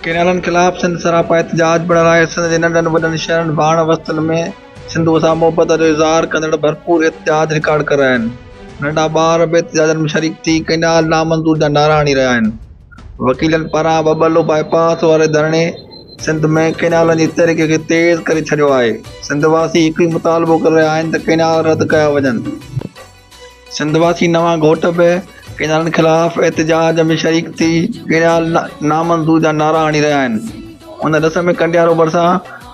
ڪينالن خلاف سنڌ سراپا احتجاج پڻ رائي سنڌ جي ننڍن وڏن شهرن ڀاڻ وستن ۾ سنڌوء سان محبت جو اظهار ڪندڙ ڀرپور اتحاد رڪارڊ ڪريا آهن. ننڍا ٻار به احتجاجن ۾ شريڪ ٿي ڪئنال نامنظور جا نعرا هڻي رهيا آهن. وڪيلن پاران ٻٻلو بائي پاس واري ڌرڻي سنڌ ۾ ڪئنالن جي تحريڪ کي تيز ڪري ڇڏيو آهي. سنڌ واسي هڪ ئي مطالبو ڪري رهيا آهن ته ڪئنال رد ڪيا وڃن. سنڌ واسي نوان گهوٽ به ڪينالن خلاف احتجاج ۾ شريڪ ٿي ڪينال نامنظور جا نعرا هڻي رهيا آهن ان رس ۾ ڪنڊيارو ڀرسان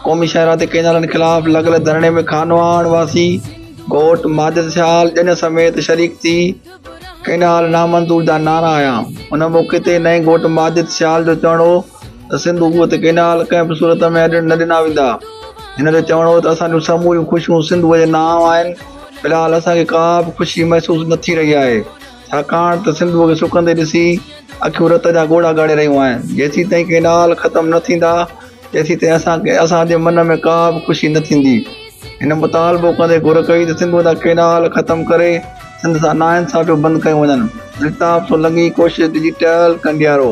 قومي شاهراهه تي ڪينالن خلاف لڳل ڌرڻي ۾ خانواهڻ واسي گهوٽ ماجد سيال ڄڃ سميت شريڪ ٿي ڪينال نامنظور جا نعرا هنيا ان موقعي تي نئين گهوٽ ماجد سيال جو چوڻ هو ته سنڌو ڪوهه تي ڪئنال ڪنهن به صورت ۾ اڏڻ نه ڏنا ويندا. هن جو چوڻ هو ته اسان جون سموريون خوشيون سنڌوء جي نانء آهن، في الحال اسان کي ڪا به خوشي محسوس نه ٿي رهي آهي، ڇاڪاڻ ته سنڌوء کي سڪندي ڏسي اکيون رت جا ڳوڙها ڳاڙي رهيون آهن، جيسيتائين ڪئنال ختم نه ٿيندا تيسيتائين اسان کي اسان جي من ۾ ڪا به خوشي نه ٿيندي. هن مطالبو ڪندي گهر ڪئي ته سنڌوء جا ڪئنال ختم ڪري سنڌ سان ناانصافيون بند ڪيون وڃن. الطاف سولنگي ڪوشش ڊجيٽل ڪنڊيارو.